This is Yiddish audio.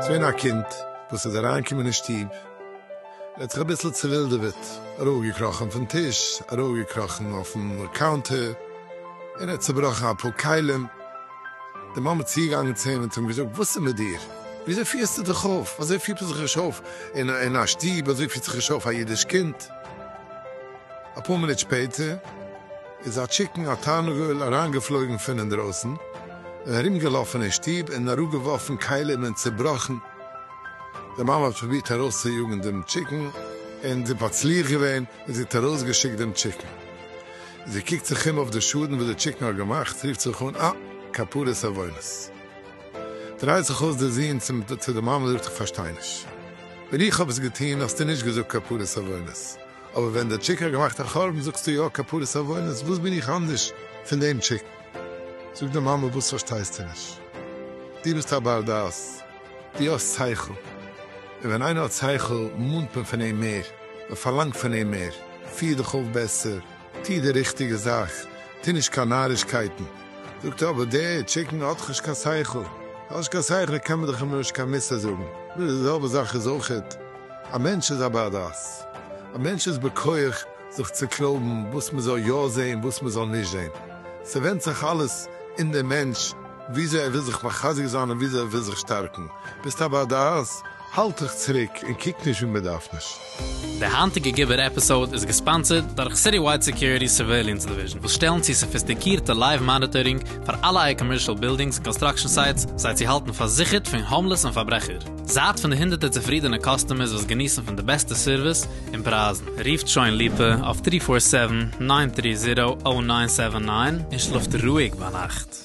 געווען א קינד וואס איז אריינגעקומען אין שטוב, ער האט זיך אביסל צעווילדעוועט, ארויפגעקראכן פון טיש, ארויפגעקראכן אויפן קאונטער, און ער האט צעבראכן אפאר כלים. די מאמע איז צוגעגאנגען צו אים און צו אים געזאגט, וואס איז מיט דיר? וויאזוי פירסטו דיך אויף? אזוי פירט מען זיך נישט אויף אין א שטוב, אזוי פירט זיך נישט אויף א אידיש קינד. אפאר מינוט שפעטער איז א טשיקן, א תרנגול, אריינגעפלויגן פון אינדרויסן און ארומגעלאפן אין שטוב און אראפגעווארפן כלים און צעבראכן. די מאמע האט פרובירט ארויסצויאגן דעם טשיקן און זי האט מצליח געווען און זי האט ארויסגעשיקט דעם טשיקן. זי קוקט זיך אום אויף די שאדן וואס די טשיקן האט געמאכט, רופט זיך אן, אה, כפרת עוונות. דרייט זיך אויס די זון צו די מאמע, זאגט איך פארשטיי נישט, ווען איך האב עס געטון האסטו נישט געזאגט כפרת עוונות, אבער ווען די טשיק האט געמאכט א חורבן זאגסטו יא כפרת עוונות, וואס בין איך אנדערש פון דעם טשיקן? זאגט די מאמע וואס פארשטייסטו נישט? דו ביסט א בר דעת? דו האסט שכל, און ווען איינער האט שכל מאנט מען פון אים מער, מען פארלאנגט פון אים מער, פיר דיך אויף בעסער, טו די ריכטיגע זאך, טו נישט קיין נארישקייטן. זאגט ער, אבער דער טשיקן האט דאך נישט קיין שכל, האסט נישט קיין שכל קען מען דיך אים נישט קיין מוסר זאגן. די זעלבע זאך איז אויכעט, א מענטש איז א בר דעת, א מענטש איז בכח זיך צו קלויבן וואס מען זאל יא זען וואס מען זאל נישט זען, ס'ווענדט זיך אלעס אין דעם מענטש. וויאזוי ער וויל זיך מחזק זיין און וויאזוי ער וויל זיך שטארקן, ביסט א בר דעת, האלט דיך צוריק און קוק נישט ווי מען דארף נישט. די היינטיגע גיבור עפיסאוד איז געספאנסערד דורך סיטיווייד סעקיוריטי'ס סורוועיליענס דיוויזשן וואס שטעלן צו סאפיסטיקירטע לייוו מאניטארינג פאר אלע אייער קאמערשאל בילדינגס און קאנסטראקשן סייטס זיי צו האלטן פארזיכערט פון האומלעס און פארברעכער. זייט פון די הונדערטער צופרידענע קאסטומערס וואס געניסן פון די בעסטע סערוויס און פרייזן. רופט שוין ליפא אויף טרי פאר סעווען, ניין טרי זירא, אויט ניין סעווען ניין און שלאפט רואיג ביינאכט.